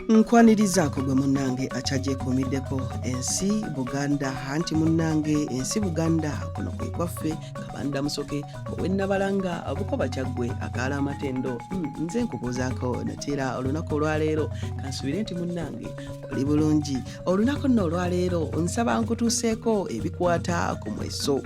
nkwanirizaako gwe munnange akyagyekomiddeko ensi buganda anti munnange ensi buganda kuno kwe kwaffe kabanda musoke owennabalanga bukoba kyaggwe akaala amatendo hmm, nze nkubuuzaako nateera olunaku olwaleero kansubire nti munnange oli bulungi olunaku nno olwaleero nsaba nkutuuseeko ebikwata ku mweso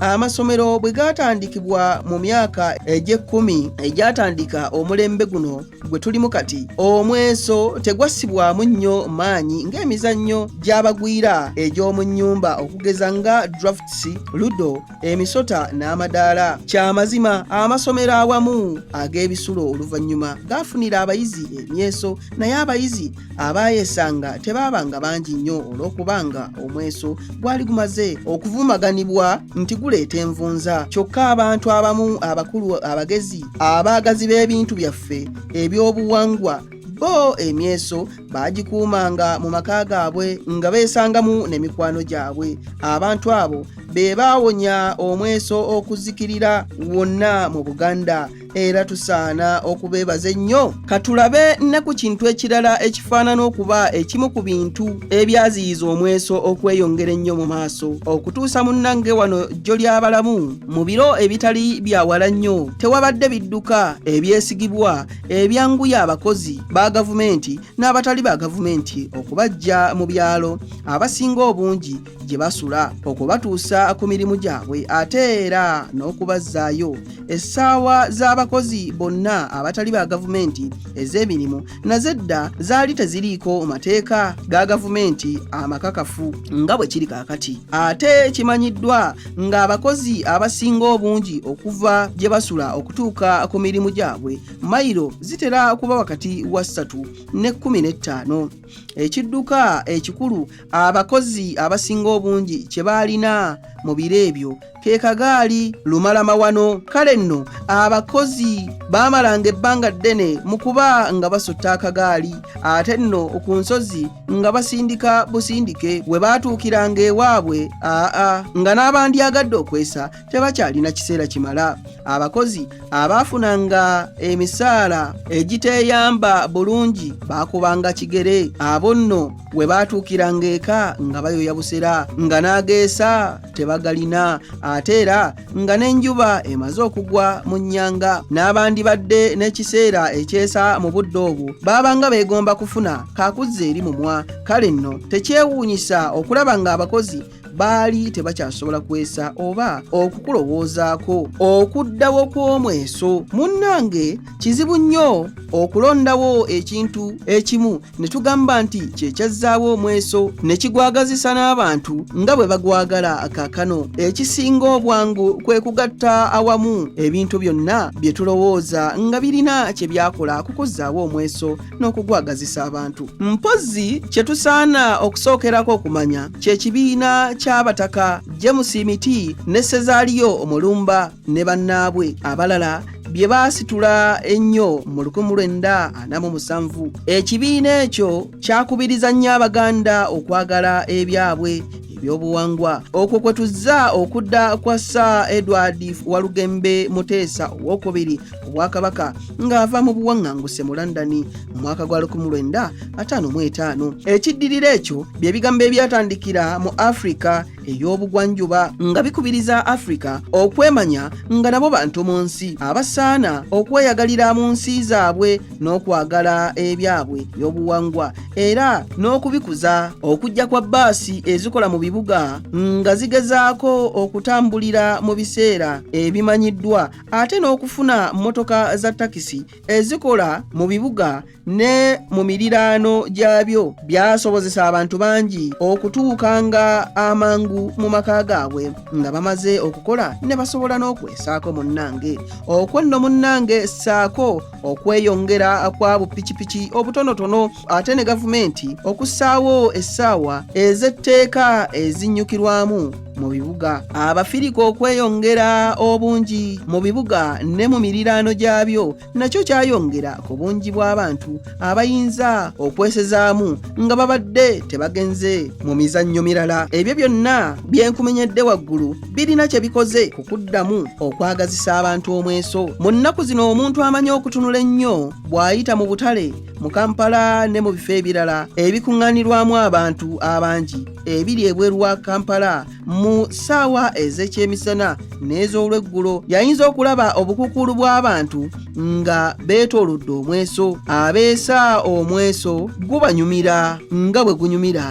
amasomero bwe gaatandikibwa mu myaka egy'ekkumi egyatandika omulembe guno gwe tulimu kati omweso tegwassibwamu nnyo maanyi ng'emizannyo gy'abagwira egy'omu nnyumba okugeza nga drafts ludo emisota n'amadaala kyamazima amasomero awamu ag'ebisulo oluvannyuma gaafunira abayizi emyeso naye abayizi abaayesanga tebaabanga bangi nnyo olw'okubanga omweso gwali gumaze okuvumaganibwa nti guleeta envunza kyokka abantu abamu abakulu abagezi abaagazi b'ebintu byaffe ebyobuwangwa bo emyeso baagikuumanga mu maka gaabwe nga beesangamu ne mikwano gyabwe abantu abo be baawonya omweso okuzikirira wonna mu buganda era tusaana okubeebaza ennyo katulabe ne ku kintu ekirala ekifaanana okuba ekimu ku bintu ebyaziyiza omweso okweyongera ennyo mu maaso okutuusa munnange wano jjo ly'abalamu mu biro ebitali byawala nnyo tewabadde bidduka ebyesigibwa ebyanguya abakozi ba gavumenti n'abatali ba gavumenti okubajja mu byalo abasinga obungi gye basula okubatuusa ku mirimu gyabwe ate era n'okubazzaayo essaawa z'abakozi bonna abatali ba gavumenti ez'emirimu nazo edda zaali teziriiko mateeka ga gavumenti amakakafu nga bwe kiri kaakati ate kimanyiddwa ng'abakozi abasinga obungi okuva gye basula okutuuka ku mirimu gyabwe mayiro zitera kuba wakati wa ssatu ne kkumi n'ettaano ekidduka ekikulu abakozi abasinga obungi kye baalina mu biro ebyo ke kagaali lumala mawano kale nno abakozi baamalanga ebbanga ddene mu kuba nga basutta akagaali ate nno ku nsozi nga basindika busindike we baatuukiranga ewaabwe aa nga n'abandyagadde okwesa tebakyalina kiseera kimala abakozi abaafunanga emisaala egiteeyamba bulungi baakubanga kigere abo nno we baatuukiranga eka nga bayoya busera nga n'ageesa tebagalina ate era nga n'enjuba emaze okugwa mu nnyanga n'abandibadde n'ekiseera ekyesa mu budde obwo baabanga beegomba kufuna kakuzza eri mumwa kale nno tekyewuunyisa okulaba ng'abakozi baali tebakyasobola kwesa oba okukulowoozaako okuddawo kw'omweso munnange kizibu nnyo okulondawo ekintu ekimu ne tugamba nti kye kyazzaawo omweso ne kigwagazisa n'abantu nga bwe bagwagala kaakano ekisinga obwangu kwe kugatta awamu ebintu byonna bye tulowooza nga birina kye byakola kukuzzaawo omweso n'okugwagazisa abantu mpozzi kye tusaana okusookerako okumanya kye kibiina ky'abataka james miti ne sezaaliyo omulumba ne bannaabwe abalala bye baasitula ennyo mu 1947 ekibiina ekyo kyakubiriza nnyo abaganda okwagala ebyabwe ebyobuwangwa okwo kwe tuzza okudda kwa sir edward walugembe muteesa owokubiri obwakabaka ng'ava mu buwaŋŋanguse mu london mu mwaka gwa 1955 ekiddirira ekyo bye bigambo ebyatandikira mu afirika ey'obugwanjuba nga bikubiriza afirika okwemanya nga nabo bantu mu nsi abasaana okweyagalira mu nsi zaabwe n'okwagala ebyabwe by'obuwangwa era n'okubikuza okujja kwa bbaasi ezikola mu bibuga nga zigezaako okutambulira mu biseera ebimanyiddwa ate n'okufuna mmotoka za takisi ezikola mu bibuga ne mu miriraano gyabyo byasobozesa abantu bangi okutuuka nga amangu mu maka gaabwe nga bamaze okukola ne basobola n'okwesaako munnange okwo nno munnange ssaako okweyongera kwa bupikipiki obutonotono ate ne gavumenti okussaawo essaawa ez'etteeka ezinnyukirwamu mu bibuga abafirika okweyongera obungi mu bibuga ne mu miriraano gyabyo nakyo kyayongera ku bungi bw'abantu abayinza okwesezaamu nga babadde tebagenze mu mizannyo mirala ebyo byonna byenkumenyedde waggulu birina kye bikoze ku kuddamu okwagazisa abantu omweso mu nnaku zino omuntu amanyi okutunula ennyo bw'ayita mu butale mu kampala ne mu bifo ebirala ebikuŋŋanirwamu abantu abangi ebiri ebweru wa kampala mu ssaawa ez'ekyemisana n'ez'olweggulo yayinza okulaba obukukuulu bw'abantu nga beetoolodde omweso abeesa omweso gubanyumira nga bwe gunyumira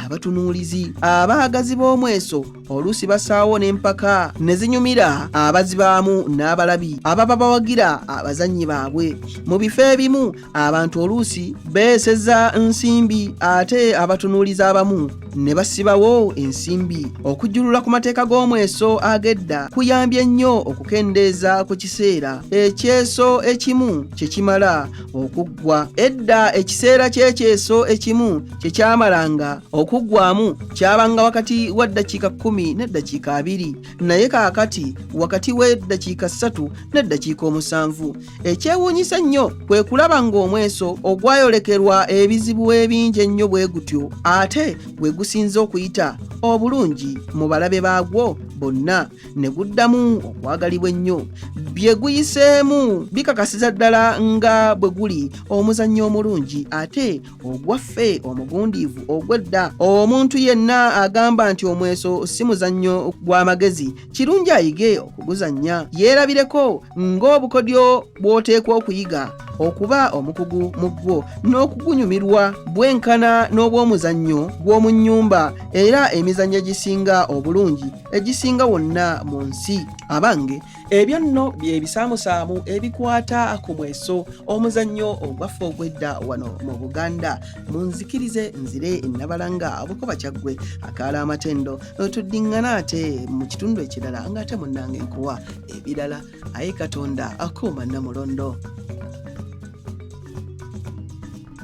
abatunuulizi abaagazi b'omweso oluusi basaawo n'empaka ne zinyumira abazibaamu n'abalabi ababa bawagira abazannyi baabwe mu bifo ebimu abantu oluusi beeseza nsimbi ate abatunuuliza abamu ne basibawo ensimbi okujjulula ku mateeka g'omweso agedda kuyambye nnyo okukendeeza ku kiseera ekyeso ekimu kye kimala okuggwa edda ekiseera ky'ekyeso ekimu kye kyamalanga okuggwamu kyabanga wakati wa ddakiika kkumi n'eddakiika abiri naye kaakati wakati w'eddakiika ssatu n'eddakiika omusanvu ekyewuunyisa ennyo kwe kulaba ng'omweso ogwayolekerwa ebizibu ebingi ennyo bwe gutyo ate gwe gusinze okuyita obulungi mu balabe baagwo bonna ne guddamu okwagalibwa ennyo bye guyiseemu bikakasiza ddala nga bwe guli omuzannyo omulungi ate ogwaffe omugundiivu ogw'edda omuntu yenna agamba nti omweso si muzannyo gw'amagezi kirungi ayige okuguzannya yeerabireko ng'obukodyo bw'oteekwa okuyiga okuba omukugu mu ggwo n'okugunyumirwa bwenkana n'obw'omuzannyo gw'omu nnyumba era emizannyo egisinga obulungi egisinga wonna mu nsi abange ebyo nno byebisaamusaamu ebikwata ku mweso omuzannyo ogwaffe ogwedda wano mu buganda munzikirize nzire nabalanga abukuba kyaggwe akaala amatendo tuddiŋŋana ate mu kitundu ekirala nga ate munnange nkuwa ebirala aye katonda akuuma namulondo